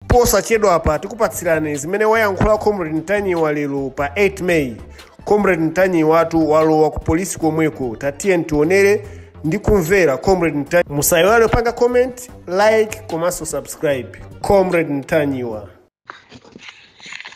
Posachedwapa tikupatsirani zimene wayankhula Comrade Ntanyiwa lero pa 8 May. Comrade Ntanyiwatu walowa ku polisi komweko tatiyeni tionere ndi kumvera Comrade Ntanyiwa. Musayiwale kupanga comment, like komanso subscribe. Comrade Ntanyiwa.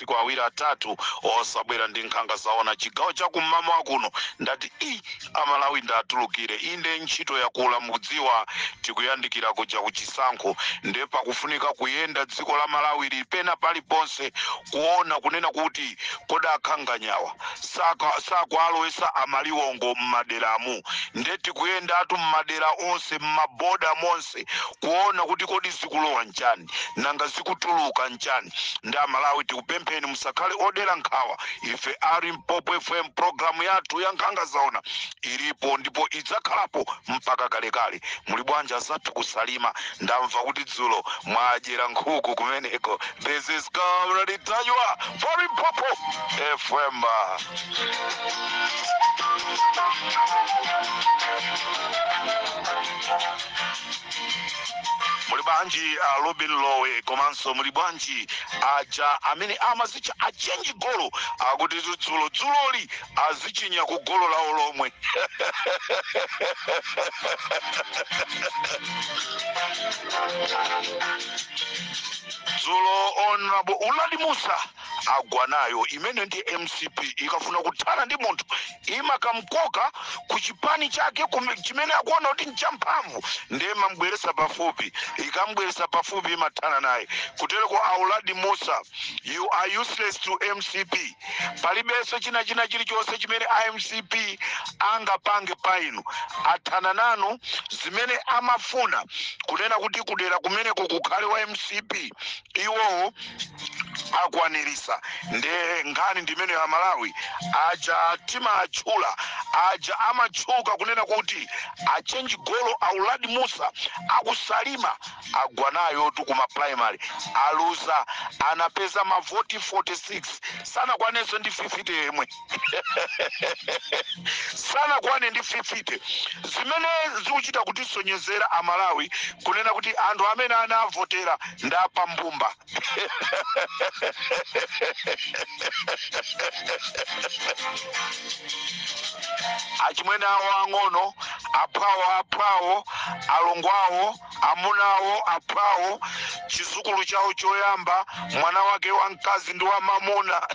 masiku awiri atatu osabwera ndi nkhanga zaona chigawo cha kum'mamawa kuno ndati ii aMalawi ndatulukira inde ntchito yakula mukudziwa tikuyandikira kuja ku chisankho nde pakufunika kuyenda dziko la malawi lili pena paliponse kuona kunena kuti kodi ankhanganyawa saka- sakuwalowesa amaliwongo m'maderamu nde tikuyendatu m'madera onse m'maboda onse zonse kuona kuti kodi zikulowa nchani nanga zikutuluka nchani nde aMalawi tikupempheni musakhale odera nkhawa ife a Limpopo FM programu yathu ya nkhanga zaona ilipo ndipo idzakhalapo mpaka kalekale muli bwanji azathu ku Salima ndamva kuti dzulo mwadyera nkhuku kumeneko this is Comrade Ntanyiwa for Limpopo FM muli bwanji a robin lowe komanso muli bwanji aja amene amazitcha achenji golo akuti dzulo dzuloli azichinya ku golo lawo lomwe dzulo honorable Uladi Mussa agwa nayo imene ndi mcp ikafuna kuthana ndi munthu imakamkoka ku chipani chake kume- chimene akuona kuti nchamphamvu ndiye imambweresa pafupi ikambweresa pafupi imathana naye kutereko a Uladi Mussa you are useless to mcp palibenso china china chilichonse chimene a mcp angapange pa inu athana nanu zimene amafuna kunena kuti kudera kumeneko kukhale wa mcp iwowo akwanirisa ndiye nkhani ndi imeneyo aMalawi aja timawatchula aja amatchuka kunena kuti achenji golo a Uladi Mussa aku Salima agwa nayotu kuma primary aluza anapeza mavoti 46 sanakwanenso ndi 50 yemwe sanakwane ndi 50 zimene zikuchita kutisonyezera amalawi kunena kuti anthu amene anawavotera ndi apambumba achimwene awo ang'ono aphwawo aphwawo alongo awo Amuna awo, aphwawo, chizukulu chawo choyamba, mwana wake wamkazi ndi wamamuna.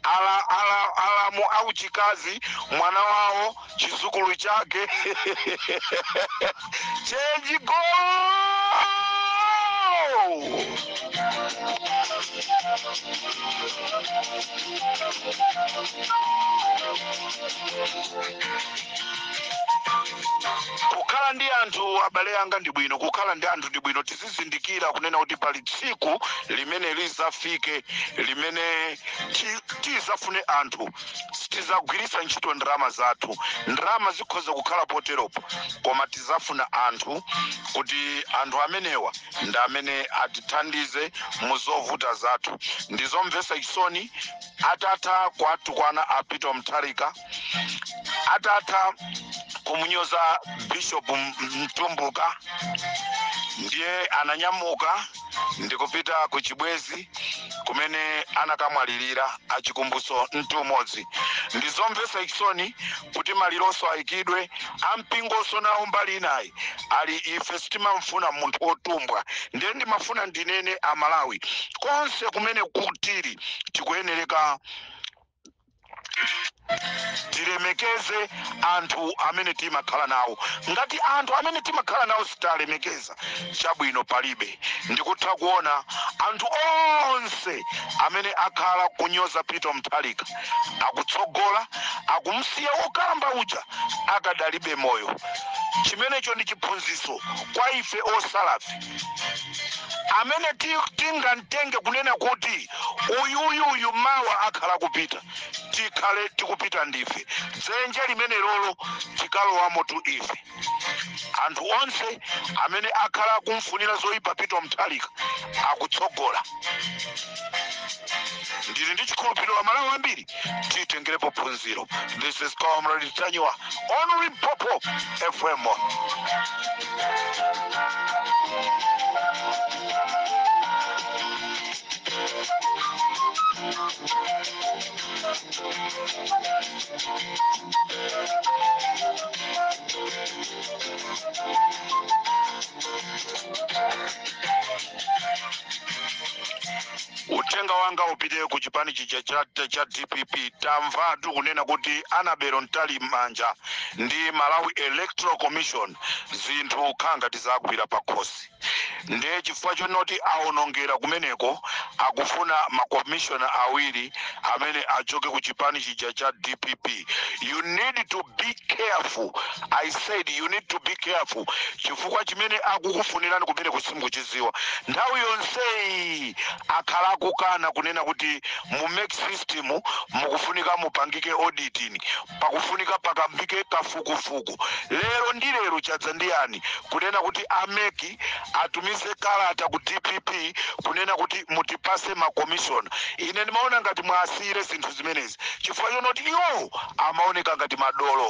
ala, ala, alamu auchikazi, mwana wawo, chizukulu chake. Change goal! kukhala ndi anthu abale anga ndi bwino kukhala ndi anthu ndi bwino tizizindikira kunena kuti pali tsiku limene lizafike limene ti- tizafune anthu tizagwiritsa ntchito ndalama zathu ndalama zikhoza kukhala poteropo koma tizafuna anthu kuti anthu amenewa ndi amene atithandize mu zovuta zathu ndizomvetsa chisoni atatha kuwatukwana a peter mutharika atatha kumunyoza bishop M- mtumbuka ndiye ananyamuka ndikupita ku chibwezi kumene anakamwalirira a chikumbutso mtumodzi ndizomvetsa chisoni kuti malironso ayikidwe ampingonso nawo mbali inayi Ali ife sitimamfuna munthu otumbwa ndiye ndimafuna ndinene a Malawi konse kumene tili tikuyenereka tilemekeze anthu amene timakhala nawo ngati anthu amene timakhala nawo sitiwalemekeza chabwino palibe ndikutha kuona anthu onse amene akhala kunyoza Peter Mutharika akutsogola, akumusiya wokalamba uja akadali moyo. Chimenecho ndi chiphunzitso kwa ife osalafe, amene ti- tingamtenge kunena kuti uyu uyu uyu mawa akhala akupita, tikhale tikupita ndife. Dzenje limenelolo tikalowamotu ife. anthu onse amene akhala akumfunira zoyipa peter mutharika akutsogola ndili ndi chikhulupiriro amalawi ambiri titengerepo phunziro this is comrade ntanyiwa on limpopo fm uthenga wanga upite ku chipani chija cha, cha dpp tamvatu kunena kuti annabel mtalimanja ndi malawi electoral commission zinthu nkhanga zawagwira pakhosi ndiye chifukwa chonoti awonongera kumeneko akufuna makomishona awiri amene achoke ku chipani chija cha dpp you need to be careful i said you need to be careful chifukwa chimene akukufunirani kumene ko simukuchiziwa nthawi yonseyi akhala akukana kunena kuti mu mec system mukufunika mupangike auditing pakufunika pakambike kafukufuku lero ndi lero chadza ndi yani kunena kuti a mec atumize kalata ku dpp kunena kuti mutipase makomishona ine ndimaona ngati muwasiyire zinthu zimenezi chifukwa chonoti iwo amaoneka ngati madolo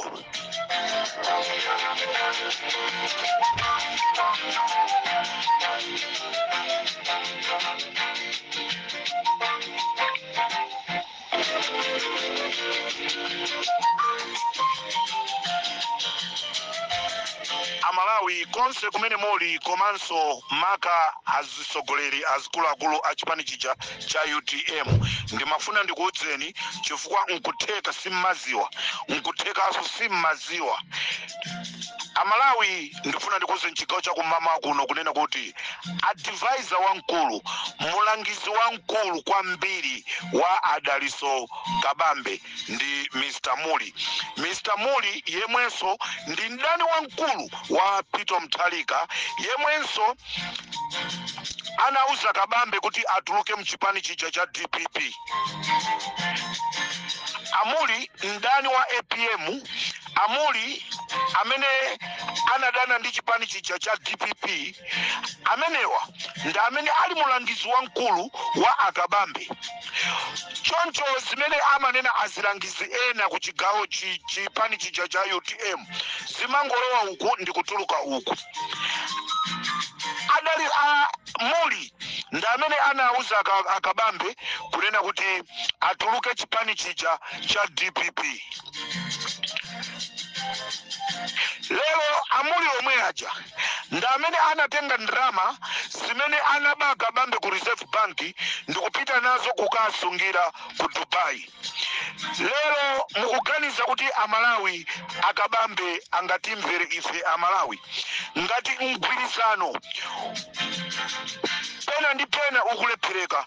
amalawi konse kumene muli komanso maka azitsogoleri azikuluakulu a chipani chija cha utm ndimafuna ndikuudzeni chifukwa nkutheka simmaziwa nkuthekanso simmaziwa amalawi ndifuna ndikuuzeni mchigawo chakummawa kuno kunena kuti advisor wamkulu mulangizi wamkulu kwambiri wa adaliso kabambe ndi mr muli mr muli yemwenso ndi mdani wamkulu wa peter mutharika yemwenso anauza kabambe kuti atuluke mchipani chija cha dpp amuli mdani wa apm a Mulli amene anadana ndi chipani chija cha dpp amenewa ndi amene ali mulangizi wamkulu wa a Kabambe. Choncho zimene amanena azilangizi ena ku chigawo chipani chija cha utm zimangolowa uku ndi kutuluka uku. Adali a Mulli ndi amene anauza a Kabambe kunena kuti atuluke chipani chija cha dpp. lero amuli omwe aja ndi amene anatenga ndalama zimene anaba akabambe ku reserve bank ndikupita nazo kukasungira ku dubai lero mukuganiza kuti amalawi akabambe angatimvere ife amalawi ngati mgwirizano pena ndi pena ukulephereka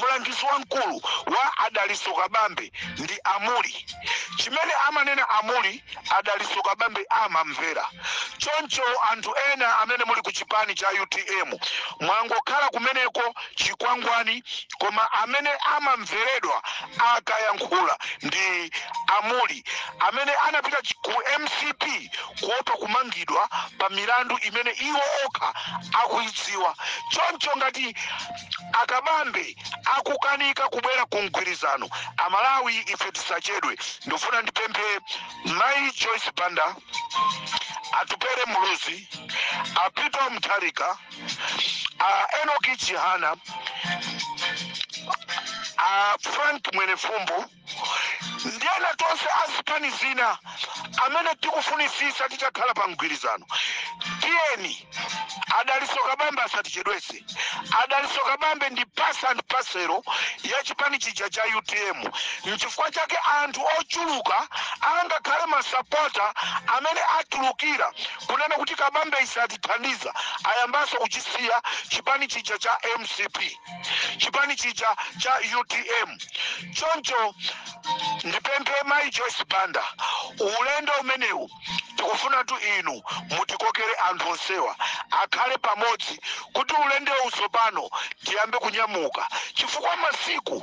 mlangizi wamkulu wa adaliso kabambe ndi amuli chimene amanena amuli adaliso kabambe amamvera choncho anthu ena amene muli ku chipani cha utm mwangokhala kumeneko chikwangwani koma amene amamveredwa akayankhula ndi amuli amene anapita ku mcp kuopa kumangidwa pa milandu imene iwo okha akuidziwa. Choncho ngati a Kabambe akukanika kubwera ku mgwirizano, a Malawi ife tisachedwe. Ndikufuna ndipemphe Mai Joyce Banda, Atupele Muluzi, a Peter Mutharika, a Enoki Chihana, a Frank Mwenefumbo, ndi ena tonse a zipani zina amene tikufunitsitsa titakhala pa mgwirizano tiyeni a dalitso kabambe asatichedwetse a dalitso kabambe ndi pasa and pasero ya chipani chija cha utm nchifukwa chake anthu ochuluka angakhale masapota amene atulukira kunena kuti kabambe satithandiza ayambanso kuchisiya chipani chija cha mcp chipani chija cha utm choncho ndipemphe mayi joyce banda ulendo umenewu tikufunatu inu mutikokere anthu onsewa akhale pamodzi kuti ulendowu tsopano tiyambe kunyamuka chifukwa masiku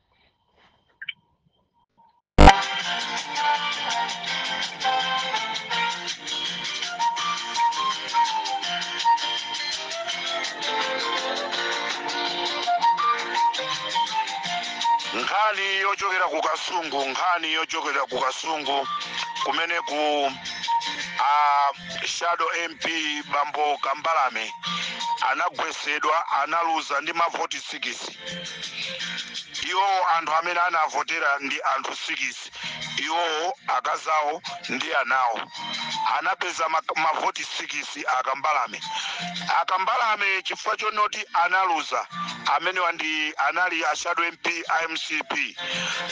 nkhani yochokera ku kasungu nkhani yochokera ku kasungu kumene ku a shadow mp bambo kambalame anagwesedwa analuza ndi mavoti sikisi iwowo anthu amene anavotera ndi anthu sikisi iwowo akazi awo ndi anawo anapeza ma- mavoti sikisi a kambalame a kambalame chifukwa chonoti analuza amenewa ndi anali a shadow mp a mcp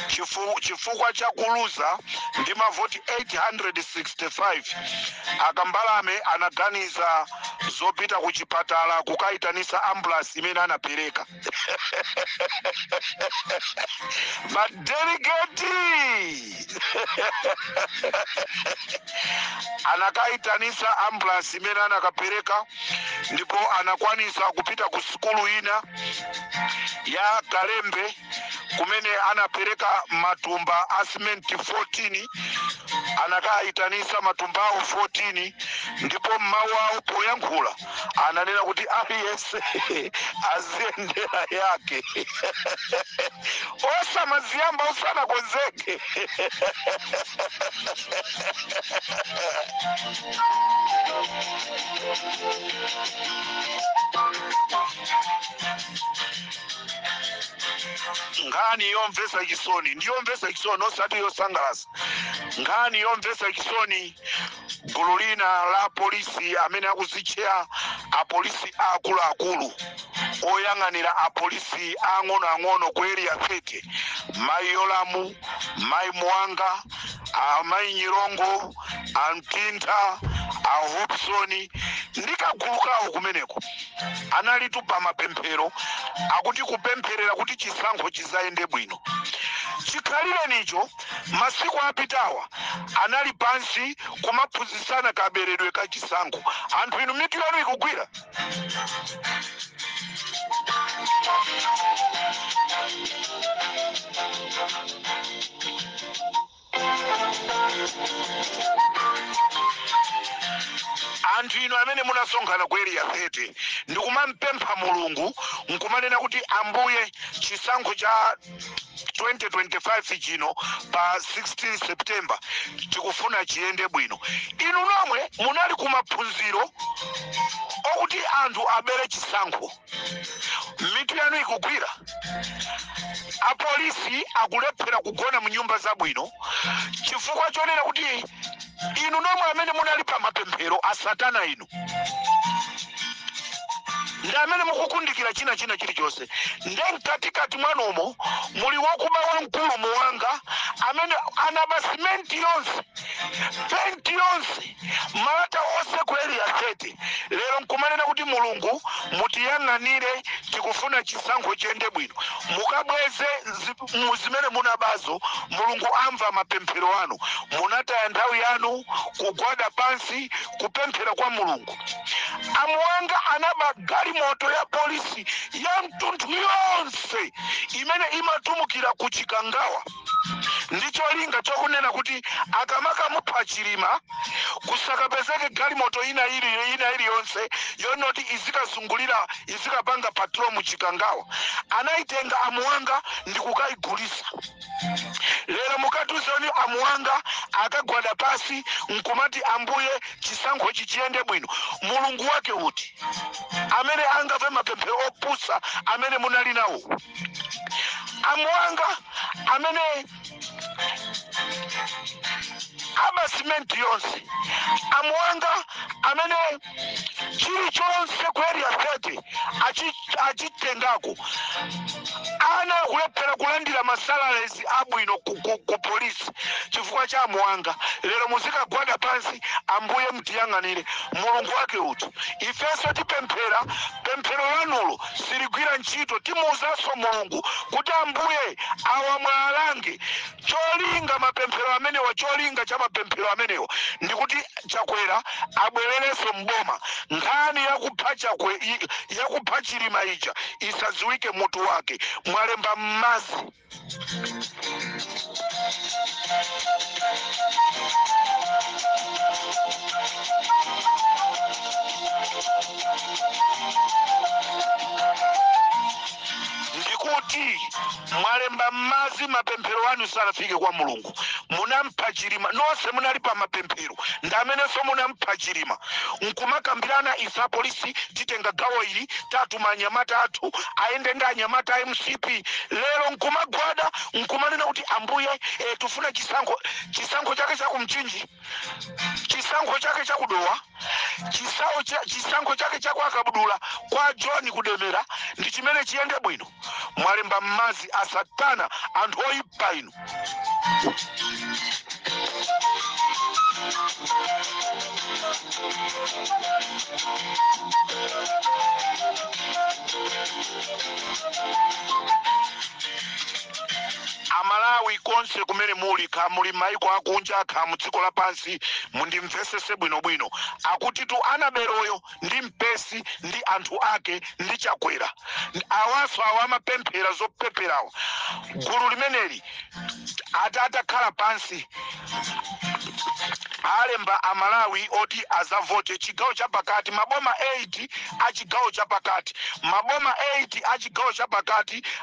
Chifu- chifukwa cha kuluza ndi mavoti 865 a kambalame anaganiza zopita kuchipatala kukayitanisa ambulance imene anapereka madelegeti anakayitanisa ambulance imene anakapereka ndipo anakwanisa kupita ku sukulu ina ya kalembe kumene anapereka matumba a simenti 14 anakayitanisa matumbawo 14 ndipo mmawu awo poyankhula ananena kuti aliyense aziyendera yake osamaziyamba usanakonzeke nkhani yomvetsa chisoni ndi yomvetsa chisoni osati yosangalatsa nkhani yomvetsa chisoni gulu lina la polisi amene akuzitchera apolisi aakuluakulu oyang'anira apolisi ang'onoang'ono ku area 30 mayi yolamu mayi muwanga amayi nyirongo amtintha a hopsoni ndi kagulu kawo kumeneko analitu pa mapemphero akuti kupempherera kuti chisankho chizayende bwino chikhalirenicho masiku apitawa anali pansi kumaphunzitsana kaberedwe ka chisankho anthu inu mitu yanu ikugwira anthu inu amene munasonkhana ku area 30 ndikumampempha mulungu nkumanena kuti ambuye chisankho cha 2025 chino pa 16 september tikufuna chiyende bwino inu nomwe munali kumaphunziro okuti anthu abere chisankho mitu yanu ikugwira apolisi akulephera kugona mu nyumba zabwino chifukwa chonena kuti inu nomwe amene munali pa mapemphero a satana inu ndi amene mukukundikira china china chilichonse nde mkatikati mwanumo muli wakuba wamkulu muwanga amene anaba simenti yonse penti yonse Malata onse ku area 30 lero nkumanena kuti Mulungu mutiyang'anire tikufuna chisankho chiyende bwino. Mukabweze zimene munabazo Mulungu amva mapemphero anu. Munataya nthawi yanu kugwada pansi kupemphera kwa Mulungu. Amuwanga anaba galimoto ya polisi yamtunthu yonse imene imatumikira ku Chikangawa. ndi cholinga chokunena kuti akamakamupha chilima kusakapezeke galimoto ina ili ina iliyonse yonena kuti izikazungulira izikapanga patrol mu chikangawa anayitenga amuwanga ndi kukayigulisa lero mukatiuze oni amuwanga akagwada pasi nkumati ambuye chisankhochi chiyende bwino mulungu wake uti amene angave mapemphero opusa amene munali nawo amuwanga amene aba simenti yonse amuwanga amene chilichonse ku area 30 achitengako ana akulephera kulandira masalalezi abwino ku polisi chifukwa cha amuwanga lero muzikagwada pansi ambuye mtiyang'anire mulungu wake uti ifenso tipemphera pemphero lanulo siligwira ntchito timuuzanso mulungu kuti ambuye awa muwalange cholinga mapemphero amenewa cholinga cha mapemphero amenewa ndikuti chakwera abwererenso mboma nkhani yakupha chakwe i- yakupha chilima ija isadziwike mutu wake mwalemba mmazi ndikuti mwalemba m'madzi mapemphero anu sanafike kwa mulungu munampha chilima nonse munali pa mapemphero ndi amenenso munampha chilima nkumakambirana ife apolisi titenga gawo ili tatuma anyamata athu ayende ndi anyamata a mcp lero nkumagwada nkumanena kuti ambuye eh, tufuna chisankho chisankho chake cha ku mchinji chisankho chake cha ku dowa chisawo cha, chisankho chake cha kwa kabudula kwa john kudemera ndi chimene chiyende bwino mwalemba mmadzi a satana anthu oyipa inu Amalawi konse kumene muli, kaya muli maiko akunja kaya mdziko lapansi, mundimvesese bwino bwino. Akuti tu Anabeloyo ndi mpesi ndi anthu ake ndi Chakwera ndi awaso awa amapemphero zopepherawo gulu limeneli ati atakhala pansi alemba amalawi oti azavote chigawo chapakati maboma 8 achigawo chapakati maboma 8 achigawo chapakati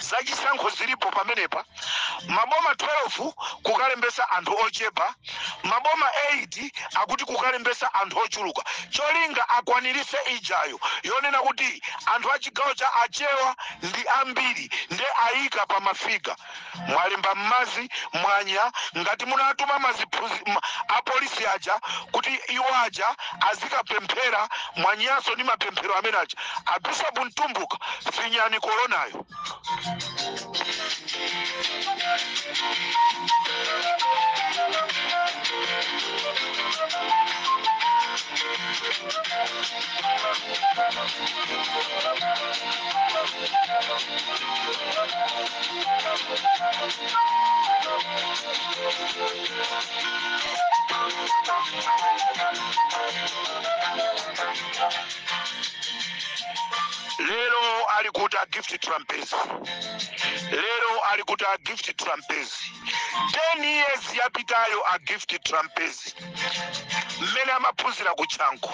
zachisankho zilipo pamenepa maboma 12 kukalembesa anthu ochepa maboma 8 akuti kukalembesa anthu ochuluka cholinga akwanirise ijayo yonena kuti anthu achigawo cha achewa ndi ambiri nde ayika pa mafiga mwalemba mmadzi mwanya ngati munatuma maziphuzi ma, apolisi aja kuti iwo aja azikapemphera mwanyanso ndi mapemphero amenewaja abishopu mtumbuka finyani koronayo lero ali kuti a gift trapence lero ali kuti a gift trapence 10 years yapitayo a gift trapence mmene amaphunzira ku chanco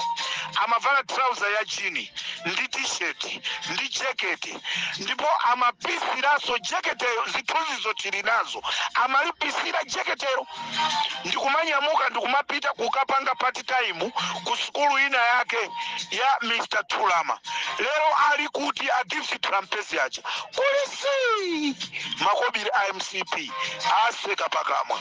amavala trouser ya jini ndi t-shirt ndi jekete ndipo amapisiranso jeketeyo zithunzizo tili nazo amalipisira jeketeyo ndikumanyamuka ndikumapita kukapanga part time ku sukulu ina yake ya mr tulama lero ali kuti a gift trampezi aja kuli zii makobiri a mcp aseka pakamwa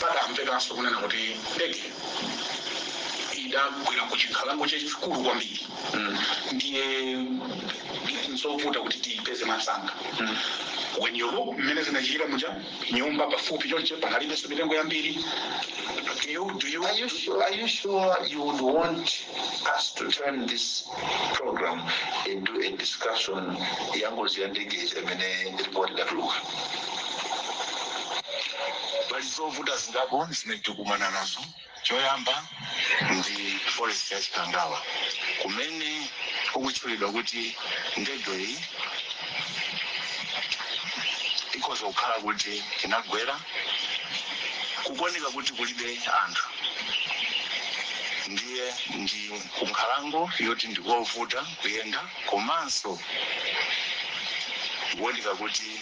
patamvekanso kunena kuti ndege idagwera ku chinkhalango chachikulu kwambiri ndiye nzovuta kuti tiyipeze mwamsanga when you look mmene zinachitikira muja nyumba pafupi chonche panalibenso mitengo yambiri you, do you, Are you sure? Are you sure you would want us to turn this program into a discussion yangozi ya ndege imene report idatuluka? Pali zovuta zingapo zimene tikukumana nazo. Choyamba ndi forest ya Chikangawa kumene kukutchulidwa kuti ndegeyi ikhoza kukhala kuti inagwera. Kukuoneka kuti kulibe anthu ndiye ndi kunkhalango yoti ndikovuta kuyenda komanso kukuoneka kuti.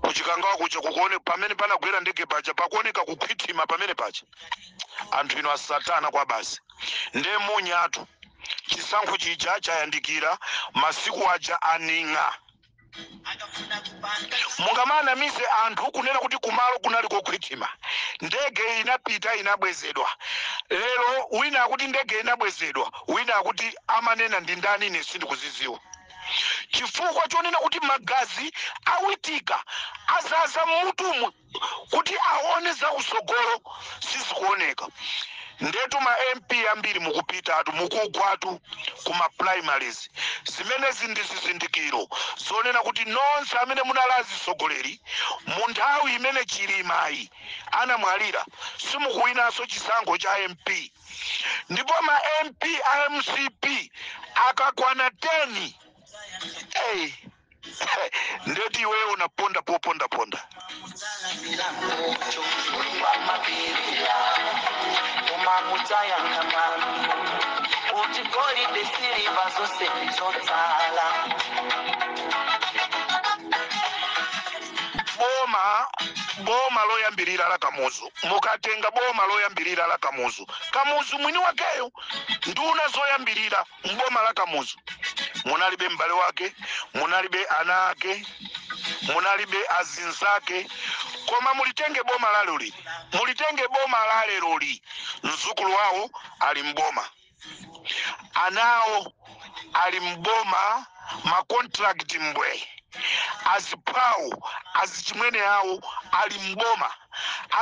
kuchikangawa kuja kukuone pamene panagwera ndege paja pakuoneka kukhwithima pamene paja anthu inu asatana kwa basi nde munyatu chisankho chija chayandikira masiku aja a Aning'a mungamanamize anthu kunena kuti kumalo kunali kokhwithima ndege inapita inabwezedwa lero wina akuti ndege inabwezedwa wina akuti amanena ndi ndani ine sindikuziziwa chifukwa chonena kuti magazi a Witika azaza mmutumu kuti aone zakusogolo sizikuoneka ndetu ma mp ambiri mukupitatu mukugwatu kuma primaries zimenezi ndi zizindikiro zonena kuti nonse amene munali azisogoleri mu nthawi imene Chilima yi anamwalira simukuwinanso chisankho cha mp ndipo ma mp a mcp akakwana 10 hey. ndetu iwe unaponda poponda ponda kuti golide siliva zose zotsala boma boma loyambirira la kamuzu Mukatenga boma loyambirira la Kamuzu, Kamuzu mwini wakeyo, nduna zoyambirira m'boma la Kamuzu, munalibe m'bale wake, munalibe ana ake, munalibe azinzake, koma mulitenge boma la leroli, mulitenge boma la leroli, mzukulu wawo ali m'boma. anawo ali mboma ma contract mbwe aziphawo azichimwene awo ali mboma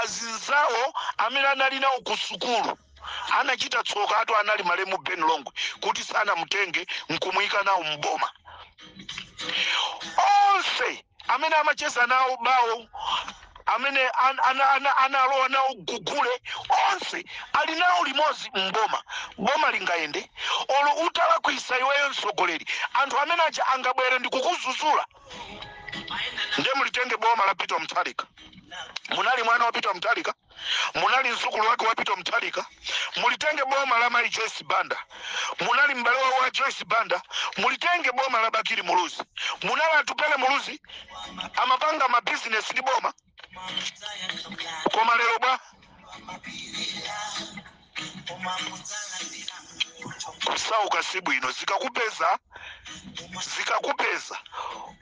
azinzawo amene anali nawo ku sukulu anachita tsokatu anali malemu ben longwe kuti sanamutenge nkumuyika nawo mboma onse amene amacheza nawo bawo amene analowa nawo gugule onse ali nawo limodzi mboma boma lingayende olo utalakwisa iweyo mtsogoleri anthu amene aja angabwere ndikukuzuzula nde mulitenge boma la peter mutharika munali mwana wa peter mutharika munali mzukulu wake wa Peter Mutharika, mulitenge boma la Mai Joyce Banda, munali m'bale wawo wa Joyce Banda, mulitenge boma la Bakili Muluzi, munali Atupele Muluzi amapanga mabizinesi ndi boma, koma lero bwa kusauka si bwino, zikakupeza zikakupeza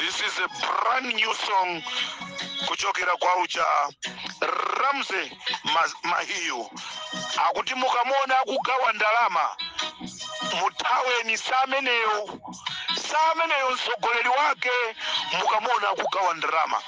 This is a brand new song kuchokera kwa uja Ramsey Mahiu akuti mukamuona akugawa ndalama muthaweni sameneyo sameneyo mtsogoleri wake mukamuona akugawa ndalama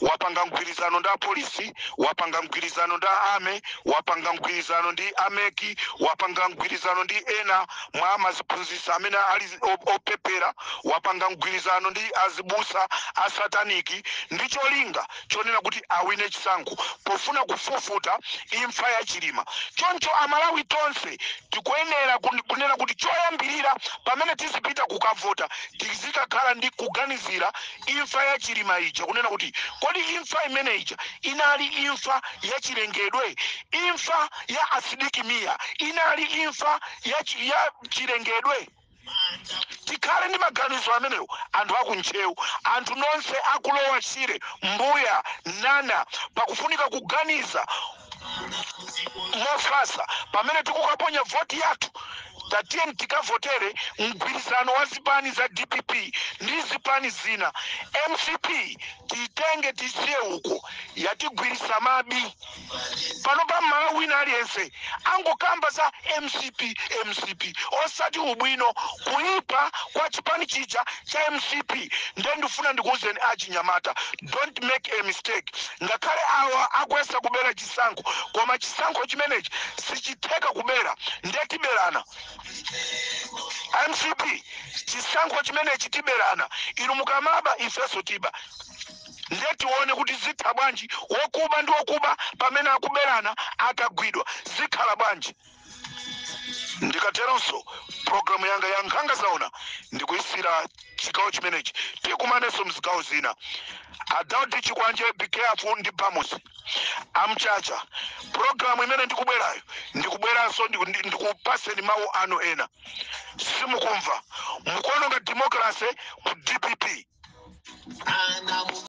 wapanga mgwirizano ndi apolisi wapanga mgwirizano ndi ame wapanga mgwirizano ndi ameki wapanga mgwirizano ndi ena mwa amaziphunzitsa amene ali opepera wapanga mgwirizano ndi azibusa asataniki ndi cholinga chonena kuti awine chisankho pofuna kufufuta imfa ya chilima choncho amalawi tonse tikuyenera kunena kuti choyambirira pamene tizipita kukavota tizikakhala ndi kuganizira imfa ya Chilima ija kunena kuti kodi imfa imene ija inali imfa ya chilengedwe? Imfa ya Asidiki Mia inali imfa ya chilengedwe? tikhale ndi maganizo amenewo anthu akuntcheu anthu nonse aku Lower Shire mbuya nana pakufunika kuganiza mofatsa pamene tikukaponya voti yathu tatiyeni tikavotere mgwirizano wa zipani za dpp ndi zipani zina mcp tiitenge tisiye uko yatigwiritsa mabi pano pa malawi wina aliyense angokamba za mcp mcp osati ubwino kuipa kwa chipani chija cha mcp nde ndifuna ndikuwuzeni achinyamata don't make a mistake ngakhale awa akuyesa kubera chisankho koma chisankho chimenechi sichitheka kubera nde tiberana mcp chisankho chimenechi tiberana inu mukamaba ifenso tiba nde tione kuti zitha bwanji wokuba ndi wokuba pamene akuberana akagwidwa zikhala bwanji ndikateronso programu yanga ya nkhanga zaona ndikuyisiya chigawo chimenechi tikumanenso mzigawo zina adaudi chikwanje be careful ndi bamus amchacha programu imene ndikubwerayo ndikubweranso ndiku- ndi- ndikupaseni mawu anu ena simukumva mukuononga democracy ku dpp